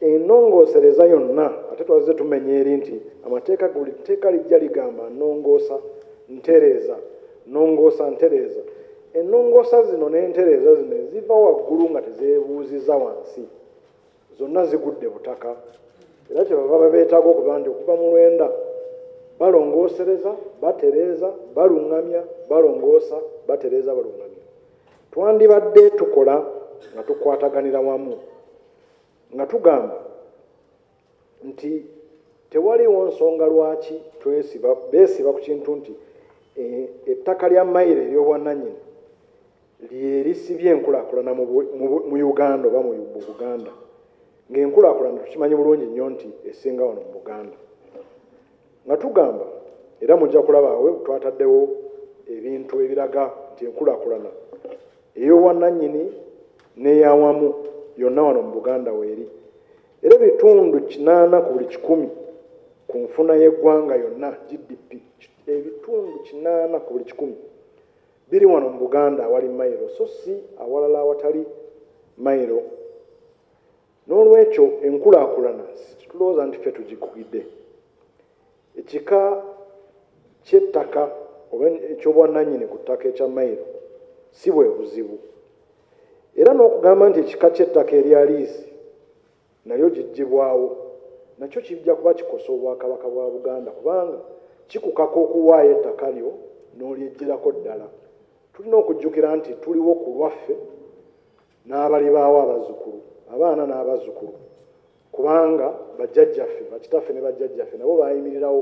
enongosereza yonna ate twazze tumenya eri nti amateeka guli tteeka lijja ligamba nongoosa ntereeza nongoosa ntereeza enongoosa zino n'entereeza zino eziva waggulu nga tezeebuuziza wansi zonna zigudde butaka era kyebava babeetaaga okuba nti okuva mu lwenda balongoosereza batereeza baluŋŋamya balongoosa batereeza baluŋŋamya twandibadde tukola nga tukwataganira wamu nga tugamba nti tewaliwo nsonga lwaki twesiba beesiba ku kintu nti e, ettaka lya mayiro ery'obwannanyini lyerisibye enkulaakulana mu uganda oba mu buganda ng'enkulaakulana tukimanyi bulungi nnyo nti esinga wano mu buganda nga tugamba era mujja kulabaawe twataddewo ebintu ebiraga nti enkulaakulana ey'obwannanyini n'eyawamu yonna wano mu Buganda weeri era ebitundu kinaana ku buli kikumi ku nfuna y'eggwanga yonna GDP ebitundu kinaana ku buli kikumi biri wano mu Buganda awali mayiro so si awalala awatali mayiro N'olwekyo enkulaakulana situlowooza nti ffe tugikugidde. Ekika ky'ettaka oba eky'obwannannyini ku ttaka ekya mayiro si bwe buzibu. Era n'okugamba nti ekika ky'ettaka erya liizi nalyo giggyibwawo nakyo kijja kuba kikosa Obwakabaka bwa Buganda kubanga kikukaka okuwaayo ettaka lyo n'olyeggyirako ddala. Tulina okujjukira nti tuliwo ku lwaffe. n'abalibaawo abazzukulu abaana n'abazzukulu kubanga bajjajjaffe bakitaffe ne bajjajjaffe nabo baayimirirawo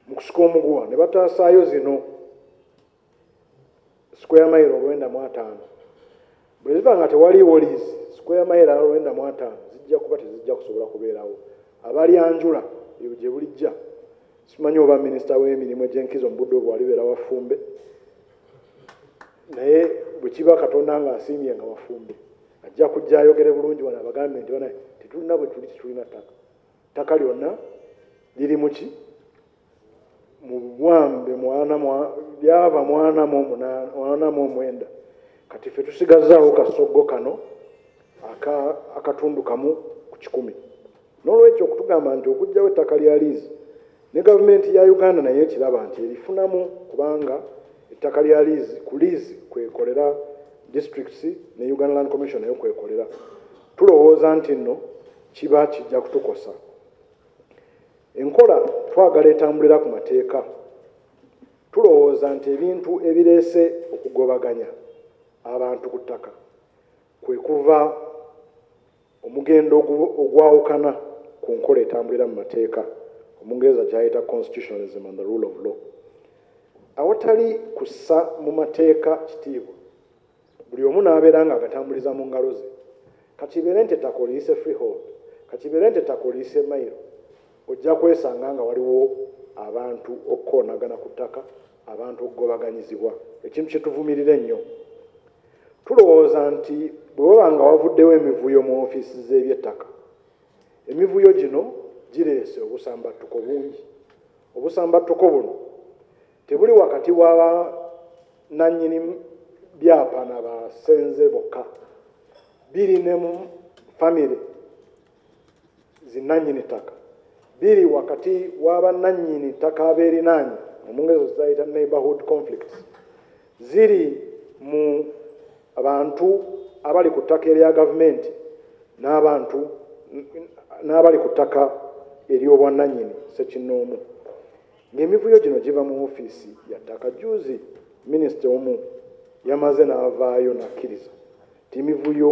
mu kusika omuguwa ne bataasaayo zino square mile olwenda mu ataano bwe ziba nga tewaliiwo liizi square mile olwenda mu ataano zijja kuba tezijja kusobola kubeerawo abalyanjula ebyo gye bulijja simanyi oba minisita w'emirimu egy'enkizo mu budde obwo alibeera wafumbe naye bwe kiba katonda nga asiimye nga wafumbe ajja kujja ayogere bulungi wano abagambe nti bana tetulina bwe tuli tetulina ttaka ttaka lyonna liri muki mubwambe mwana lyava mwana mu mwana mu omwenda kati ffe tusigazaawo kasoggo kano akatundu kamu ku kikumi N'olwekyo okutugamba nti okuggyawo ettaka lya liizi ne Gavumenti ya Uganda nayo ekiraba nti erifunamu kubanga ettaka lya liizi ku liizi kwekolera districts ne Uganda Land Commission nayo kwekolera tulowooza nti nno kiba kijja kutukosa. Enkola twagala etambulira ku mateeka. Tulowooza nti ebintu ebireese okugobaganya abantu ku ttaka kwe kuva Omugendo ogwawukana ku nkola etambulira mu mateeka, Omungereza gy'ayita constitutionalism and the rule of law. Awatali kussa mu mateeka kitiibwa, buli omu n'abeera ng'agatambuliza mu ngalo ze. Ka kibeere nti ettaka oliyise freehold, ka kibeere nti ettaka oliyise mailo, ojja kwesanga nga waliwo abantu okukoonagana ku ttaka, abantu okugobaganyizibwa, ekintu kye tuvumirira ennyo. Tulowooza nti bwe waba nga wavuddewo emivuyo mu ofiisi z'ebyettaka, emivuyo gino gireese obusambattuko bungi. Obusambattuko buno tebuli wakati wa bannannyini byapa na basenze bokka, biri ne mu famire. zinnannyini ttaka biri wakati wa bannannyini ttaka abeerinaanye omungezo zayita neighborhood conflicts ziri mu abantu abali ku ttaka erya gavumenti n'abantu n'abali ku ttaka ery'obwannannyini sekinnoomu ng'emivuyo gino giva mu ofiisi ya ttaka juuzi minisita omu yamaze n'avaayo n'akkiriza Emivuyo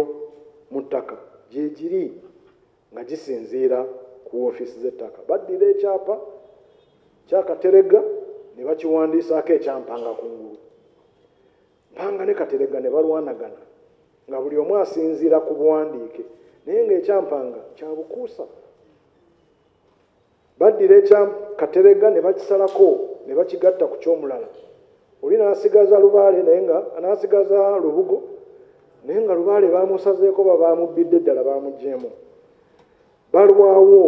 mu ttaka gyegiri nga gisinziira ku woofiisi z'ettaka. Baddira ekyapa kya Kateregga ne bakiwandiisaako ekya Mpanga ku ngulu. Mpanga ne Kateregga ne balwanagana nga buli omu asinziira ku buwandiike naye ng'ekya Mpanga kya bukuusa. Baddira ekya Kateregga ne bakisalako ne bakigatta ku ky'omulala. Oli n'asigaza lubaale naye nga n'asigaza lubugo naye nga lubaale baamusazeeko oba baamubbidde ddala baamuggyeemu. Balwawo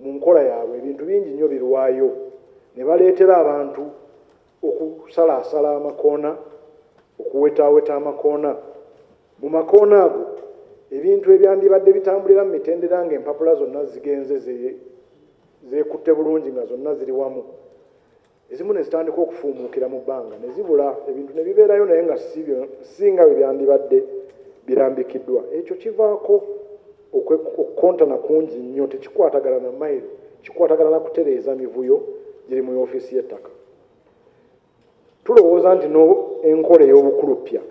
mu nkola yaabwe ebintu bingi nnyo birwayo ne baleetera abantu okusalaasala amakoona okuwetaaweta amakoona mu makoona ago ebintu ebyandibadde bitambulira mu mitendera nga empapula zonna zigenze zeekutte bulungi nga zonna ziri wamu ezimu ne zitandika okufuumuukira mu bbanga ne zibula ebintu ne bibeerayo naye nga si nga bwe byandibadde birambikiddwa ekyo kivaako Okukontana kungi nnyo tekikwatagana na mayiro, kikwatagana na kutereeza mivuyo giri mu ofiisi y'ettaka. Tulowooza nti n'enkola ey'obukuluppya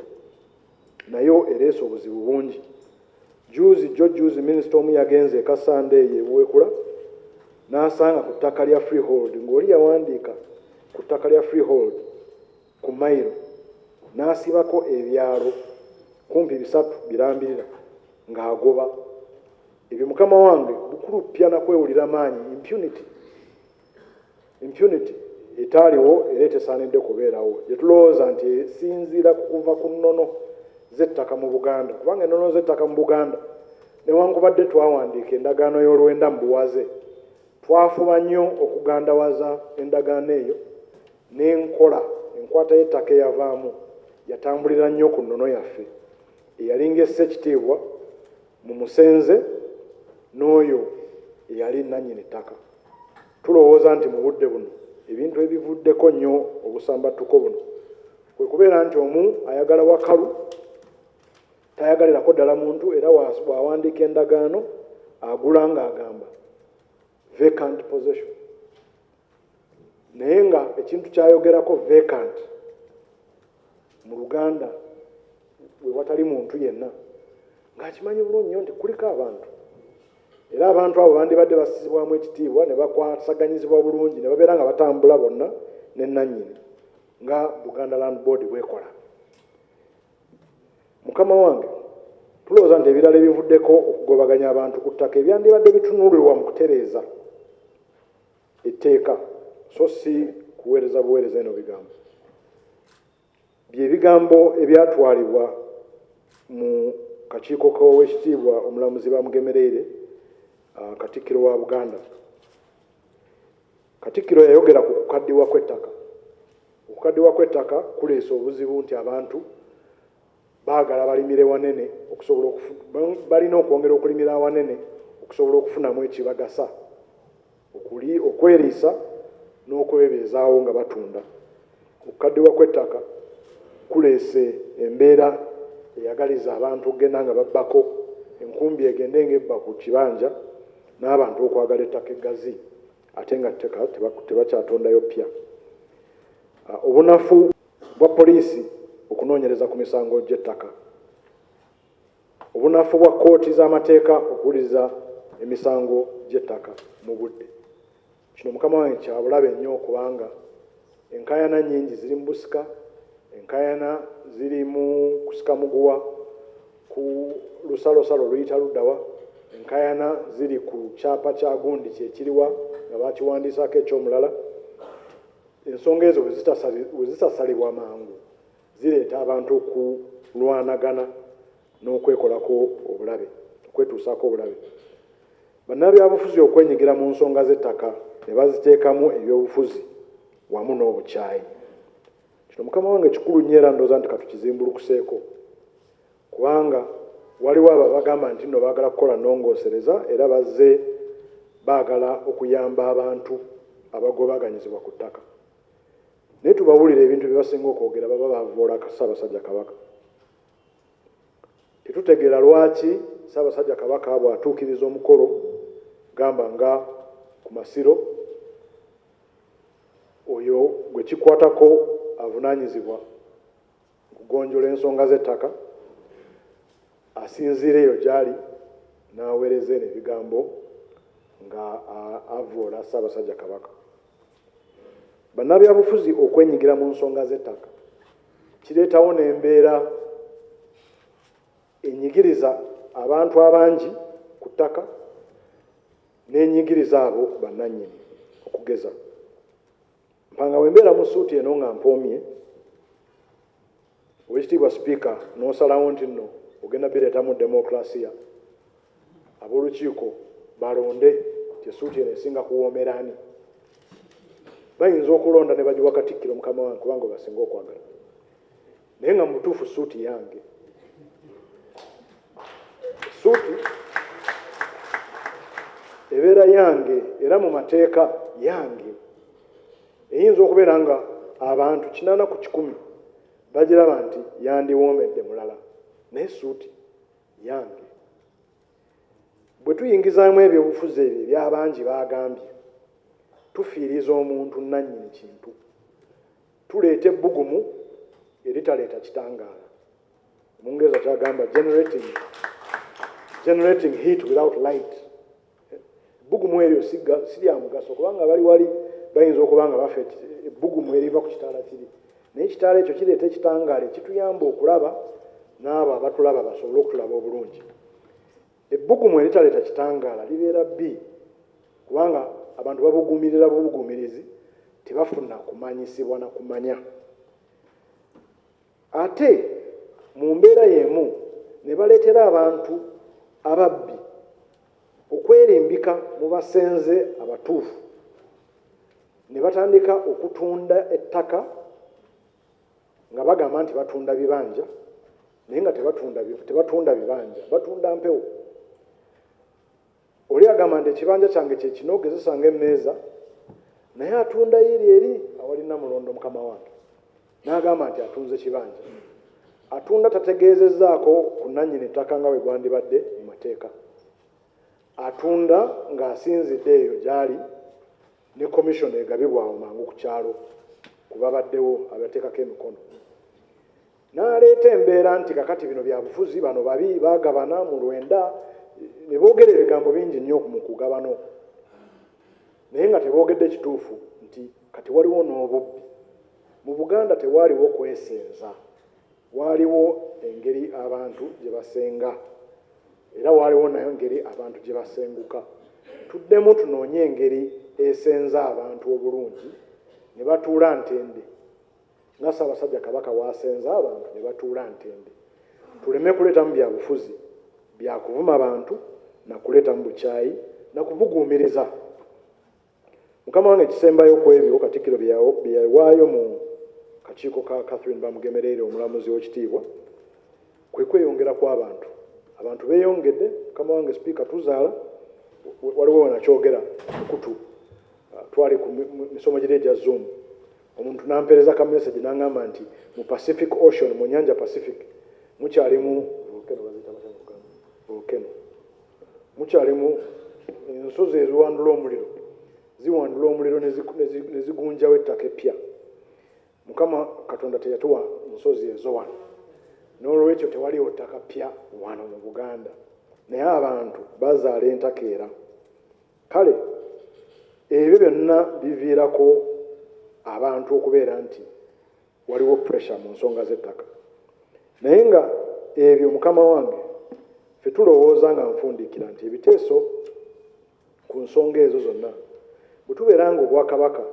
nayo ereese obuzibu bungi. Juuzi jjo juuzi minisita omu yagenze e Kasanda eyo e Buweekula n'asanga ku ttaka lya freehold ng'oli yawandiika ku ttaka lya freehold ku mayiro n'asibako ebyalo kumpi bisatu birambirira ng'agoba ebyo mukama wange bukuluppya na kwewulira maanyi impunity impunity etaaliwo era etesaanidde kubeerawo gye tulowooza nti esinziira ku kuva ku nnono z'ettaka mu buganda kubanga ennono z'ettaka mu buganda newankubadde twawandiika endagaano y'olwenda mu buwaze twafuba nnyo okugandawaza endagaano eyo N'enkola enkwata y'ettaka eyavaamu yatambulira nnyo ku nnono yaffe eyalinga essa ekitiibwa mu musenze n'oyo eyali nnannyini ttaka. Tulowooza nti mu budde buno ebintu ebivuddeko nnyo obusambattuko buno kwe kubeera nti omu ayagala wakalu tayagalirako ddala muntu era bw'awandiika endagaano agula ng'agamba vacant possession. naye nga ekintu kyayogerako vacant mu luganda wewatali muntu yenna ng'akimanyi bulungi nyo nti kuliko abantu era abantu abo bandibadde basizibwamu ekitiibwa ne bakwasaganyizibwa bulungi ne babeera nga batambula bonna ne nannyini nga buganda land board bwekola mukama wange tulowooza nti ebirala ebivuddeko okugobaganya abantu ku ttaka ebyandibadde bitunulirwa mu kutereeza Etteeka so si kuweereza buweereza eno bigambo bye bigambo ebyatwalibwa mu kakiiko k'Oweekitiibwa Omulamuzi Bamugemereire, uh, Katikkiro wa Buganda. Katikkiro yayogera ku kukaddiwa kw'ettaka. Okukaddiwa kw'ettaka kuleese obuzibu nti abantu Baagala balimire wanene okusobola okufuna, balina okwongera okulimira awanene okusobola okufunamu ekibagasa okuli okweriisa n'okwebeezaawo nga batunda. Okukaddiwa kw'ettaka kuleese embeera eyagaliza abantu okugenda nga babbako enkumbi egende ng'ebba ku kibanja n'abantu okwagala ettaka eggazi ate nga tteka tebakyatondayo ppya. Obunafu bwa poliisi okunoonyereza ku misango gy'ettaka, obunafu bwa kkooti z'amateeka okuwuliriza emisango gy'ettaka mu budde. Kino mukama wange kyabulabe nnyo kubanga enkaayana nnyingi ziri mu busika, enkaayana ziri mu kusika muguwa ku lusalosalo luyita luddawa, enkaayana ziri ku kyapa kya gundi kyekiriwa nga bakiwandiisaako eky'omulala. Ensonga ezo bwe zitasalibwa mangu zireeta abantu okulwanagana n'okwekolako obulabe okwetuusaako obulabe. Bannabyabufuzi okwenyigira mu nsonga z'ettaka ne baziteekamu ebyobufuzi wamu n'obukyayi. Kino mukama wange kikulu nnyo era ndowooza nti katukizimbulukuseeko. kubanga waliwo abo abagamba nti nno baagala kukola nnongoosereza era bazze baagala okuyamba abantu abagobaganyizibwa ku ttaka naye tubawulira ebintu bye basinga okwogera baba bavoola ssaabasajja kabaka tetutegeera lwaki ssaabasajja kabaka bw'atuukiriza omukolo gamba nga ku masiro oyo gwe kikwatako avunaanyizibwa okugonjola ensonga z'ettaka asinziira eyo gyali n'aweereza eno ebigambo nga avvoola ssaabasajja kabaka bannabyabufuzi okwenyigira mu nsonga z'ettaka kireetawo n'embeera enyigiriza abantu abangi ku ttaka n'enyigiriza abo bannannyini okugeza Mpanga bwe mbeera mu suuti eno nga mpoomye, Oweekitiibwa Sipiika n'osalawo nti nno ogenda bireetamu demokulasiya, ab'olukiiko balonde nti essuuti eno esinga kuwoomera ani. Bayinza okulonda ne bagiwa Katikkiro mukama wange kubanga gwe basinga okwagala. naye nga mubutuufu suuti yange suuti ebeera yange era mu mateeka yange eyinza okubeera nga abantu kinana ku kikumi bagiraba nti yandiwoomedde mulala naye suuti yange bwe tuyingizaamu ebyobufuzi ebyo ebyabangi baagambye tufiiriza omuntu nannyini kintu tuleeta ebbugumu eritaleeta kitangaala omungereza kyagamba generating, generating heat without light ebbugumu eryo sirya mugaso kubanga bali wali bayinza okuba nga bafa ebbugumu eriva ku kitaala kiri naye ekitaala ekyo kireeta ekitangaala ekituyamba okulaba n'abo abatulaba basobole okutulaba obulungi Ebbugumu eritaleeta kitangaala libeera bbi kubanga abantu babuguumirira bubugumirizi tebafuna kumanyisibwa na kumanya ate mu mbeera y'emu ne baleetera abantu ababbi okwerimbika mu basenze abatuufu ne batandika okutunda ettaka nga bagamba nti batunda bibanja naye nga tebatunda tebatunda bibanja batunda mpewo oli agamba nti ekibanja kyange kyekino gezesa nga emmeeza naye atunda yiri eri awalina mulondo mukama wange n'agamba nti atunze kibanja atunda tategeezezaako ku nannyini ttaka nga bwe gwandibadde mu mateeka atunda ng'asinzidde eyo gy'ali ne commission egabibwa awo mangu ku kyalo ku babaddewo abateekako emikono n'aleeta embeera nti kakati bino bya bufuzi bano babi bagabana mu lwenda ne boogera ebigambo bingi nnyo mu kugabano naye nga teboogedde kituufu nti kati waliwo n'obubbi mu buganda tewaaliwo kwesinza Waaliwo engeri abantu gye basenga, era waaliwo nayo ngeri abantu gye basenguka. Tuddemu tunoonye engeri esenza abantu obulungi ne batuula ntende nga Ssaabasajja Kabaka w'asenza abantu ne batuula ntende. Tuleme kuleetamu bya bufuzi, bya kuvuma bantu na kuleetamu bukyayi na kubuguumiriza. Mukama wange ekisembayo ku ebyo Katikkiro bye yawaayo mu kakiiko ka Catherine Bamugemereire omulamuzi ow'ekitiibwa kwe kweyongera kw'abantu. Abantu beeyongedde, mukama wange Sipiika tuzaala, waliwo wano akyogera mukutu ah, twali ku misomo giri egya Zoom omuntu n'ampeereza ka message n'angamba nti mu Pacific Ocean mu nnyanja Pacific mukyalimu volcano mukyalimu ensozi eziwandula omuliro ziwandula omuliro ne zigunjawo ettaka eppya mukama katonda teyatuwa nsozi ezo wano n'olwekyo tewaliwo ttaka ppya wano mu buganda naye abantu bazaala entakeera kale ebyo byonna biviirako abantu okubeera nti waliwo pressure mu nsonga z'ettaka naye nga ebyo mukama wange fe tulowooza nga nfundikira nti ebiteeso ku nsonga ezo zonna bwe tubeera nga obwakabaka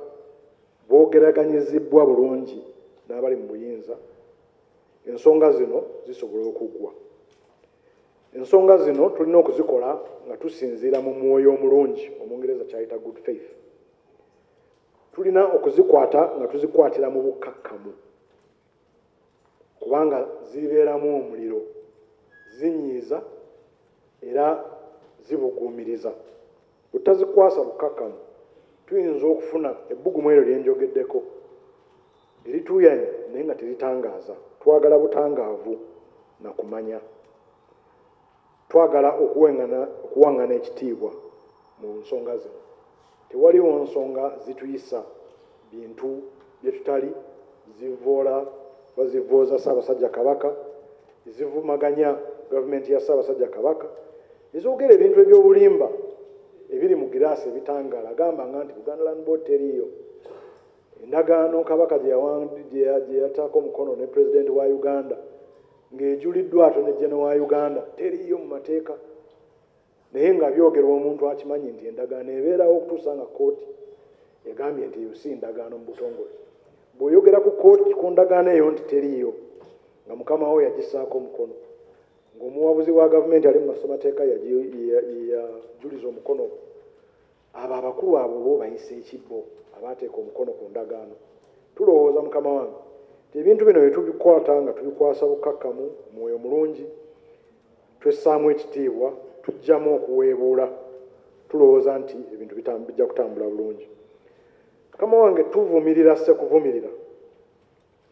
bwogeraganyizibbwa bulungi n'abali mu buyinza ensonga zino zisobola okuggwa ensonga zino tulina okuzikola nga tusinziira mu mwoyo omulungi omungereza kyayita good faith Tulina okuzikwata nga tuzikwatira mu bukkakkamu kubanga zibeeramu omuliro, zinyiiza era zibuguumiriza. Bwe tutazikwasa bukkakkamu tuyinza okufuna ebbugumu eryo lye njogeddeko erituuyanya naye nga teritangaaza. Twagala butangaavu na kumanya. Twagala okuwengana, okuwangana ekitiibwa mu nsonga zino. Tewaliwo nsonga zituyisa bintu bye tutali, zivvoola oba zivvooza Ssaabasajja Kabaka, ezivumaganya Gavumenti ya Ssaabasajja Kabaka, ezoogera ebintu eby'obulimba ebiri mu giraasi ebitangaala gamba nga nti Buganda Land Board teriiyo, endagaano Kabaka gye yawa, gye yataako omukono ne Pulezidenti wa Uganda, ng'ejuliddwa Attorney General wa Uganda teriiyo mu mateeka naye nga byogerwa omuntu akimanyi nti endagaano ebeerawo okutuusa nga kkooti egambye nti eyo si ndagaano mu butongole. Bw'oyogera ku kkooti ku ndagaano eyo nti teriiyo nga mukama wo yagissaako omukono ng'omuwabuzi wa gavumenti ali mu masomateeka yajuliza omukono Abo abakulu abo oba obayise ki bo abaateeka omukono ku ndagaano? Tulowooza, mukama wange, nti ebintu bino bwe tubikwata nga tubikwasa bukkakkamu, mwoyo mulungi, twessaamu ekitiibwa, tuggyamu okuweebuula, tulowooza nti ebintu bijja kutambula bulungi. Mukama wange, tuvumirira ssekuvumirira.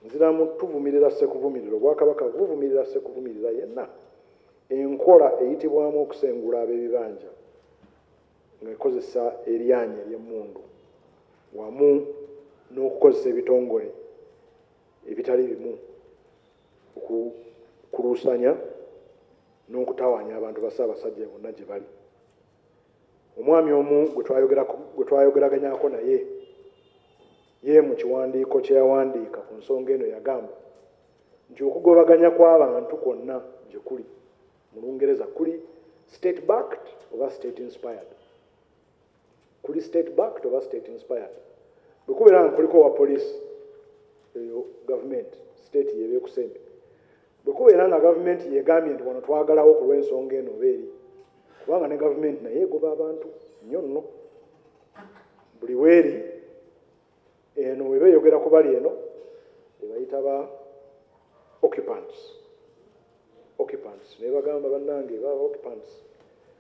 Nziramu tuvumirira ssekuvumirira. Obwakabaka buvumirira ssekuvumirira yenna. Enkola eyitibwamu okusengula ab'ebibanja. ng'ekozesa eryanyi ery'emmundu wamu n'okukozesa ebitongole ebitali bimu okukuluusanya n'okutawaanya abantu ba Ssaabasajja bonna gye bali. Omwami omu gwe twayogeraganyako naye ye mu kiwandiiko kye yawandiika ku nsonga eno yagamba nti okugobaganya kw'abantu kwonna gye kuli Mu Lungereza kuli state backed oba state inspired. Kuli state backed oba state inspired. Bwe kubeera nga kuliko owa poliisi eyo gavumenti state yeeba ekusembe. Bwe kubeera nga gavumenti yegambye nti wano twagalawo ku lw'ensonga eno oba eri, kubanga ne gavumenti nayo egoba abantu nnyo nno, buli weeri Eno weba eyogera kubali eno bebayita ba occupants occupants naye bagamba banange ba occupants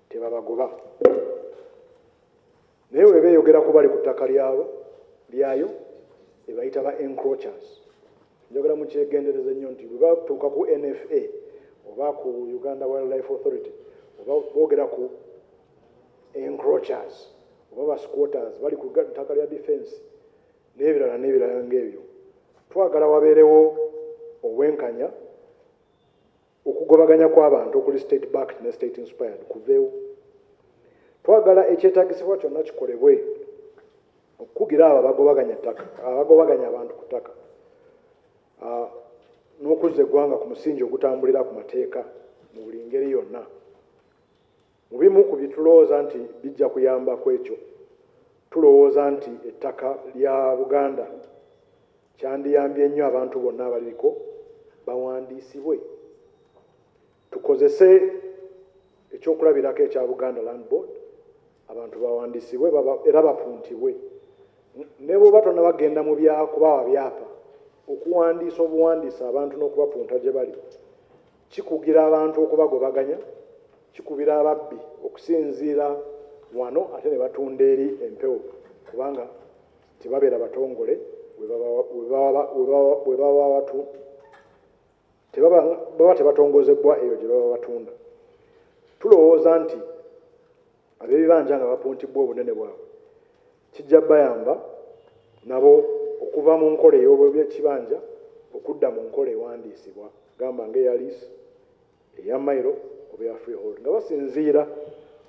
tebabagoba naye weba eyogera kubali ku ttaka lyabo lyayo ebayita ba encrochers njogera mukyegendereza nnyo nti bwebatuuka ku nfa oba ku uganda wildlife authority oba boogera ku encroachers oba ba squatters bali ku ttaka lya defence n'ebirala n'ebirala ng'ebyo. Twagala wabeerewo obwenkanya, okugobaganya kw'abantu okuli state backed ne state inspired kuveewo. Twagala ekyetagisibwa kyonna kikolebwe okukugira abo abagobaganya ttaka abagobaganya abantu ku ttaka ah, n'okuzza eggwanga ku musingi ogutambulira ku mateeka mu buli ngeri yonna. Mu bimu ku byetulowooza nti bijja kuyamba kwekyo, tulowooza nti ettaka lya Buganda kyandiyambye nnyo abantu bonna abaliriko bawandiisibwe, tukozese eky'okulabirako ekya Buganda Land Board abantu bawandiisibwe era bapuntibwe. Ne bwoba tonaba genda mu bya kubawa byapa, okuwandiisa obuwandiisi abantu n'okubapunta gye bali Kikugira abantu okubagobaganya, kikubira ababbi okusinziira wano ate ne batunda eri empewo kubanga tebabeera batongole we baba batu baba tebatongozebbwa eyo gye baba batunda. Tulowooza nti Ab'ebibanja nga bapuntibbwa obunene bwabwe kijja bayamba nabo okuva mu nkola ey'obwekibanja okudda mu nkola ewandiisibwa gamba ng'eya liisi, eya mayiro oba eya freehold nga basinziira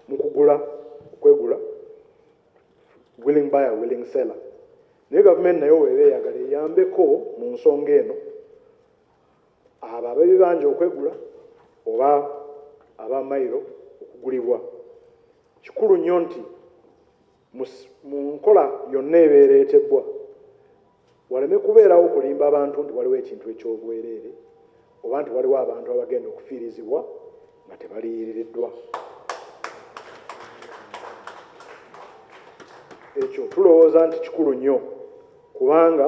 mu kugula okwegula willing buyer willing seller naye gavumenti nayo weeba eyagala eyambeko mu nsonga eno. abo ab'ebibanja okwegula oba aba mailo okugulibwa kikulu nnyo nti mu nkola yonna ebeera etebbwa waleme kubeerawo kulimba abantu nti waliwo ekintu eky'obwereere oba nti waliwo abantu abagenda okufiirizibwa nga tebaliyiririddwa ekyo tulowooza nti kikulu nnyo kubanga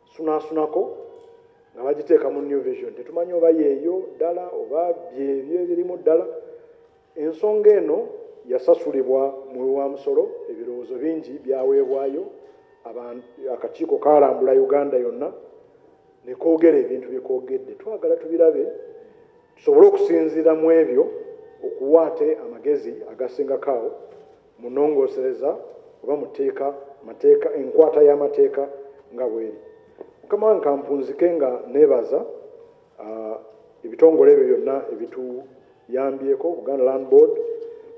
sunaasunako nga bagiteeka mu new vision tetumanyi oba yeeyo ddala oba byebyo ebirimu ddala ensonga eno yasasulibwa muwi wa musolo ebirowoozo bingi byaweebwayo akakiiko kalambula uganda yonna nekoogera ebintu byekoogedde twagala tubirabe tusobole okusinziira mu ebyo okuwaate amagezi agasingakaawo mu nnongoosereza oba mu tteeka mateeka enkwata y'amateeka nga bweri mukama wange kampunzike nga neebaza ah, ebitongole ebyo byonna ebituyambyeko buganda land board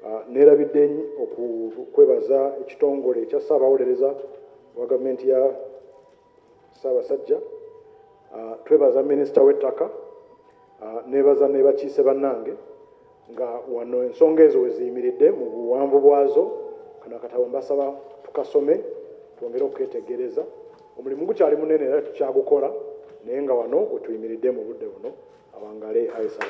ah, neerabidde okukwebaza ekitongole ekya ssaabawolereza wa gavumenti ya Ssaabasajja, uh, twebaza minisita w'ettaka uh, nebaza nebakiise bannange nga wano ensonga ezo weziyimiridde mu buwanvu bwazo kano akatabo mbasaba tukasome twongere okuketegereza omulimu gukyali munene era tukyagukola naye nga wano wetuyimiridde mu budde buno awangale aisal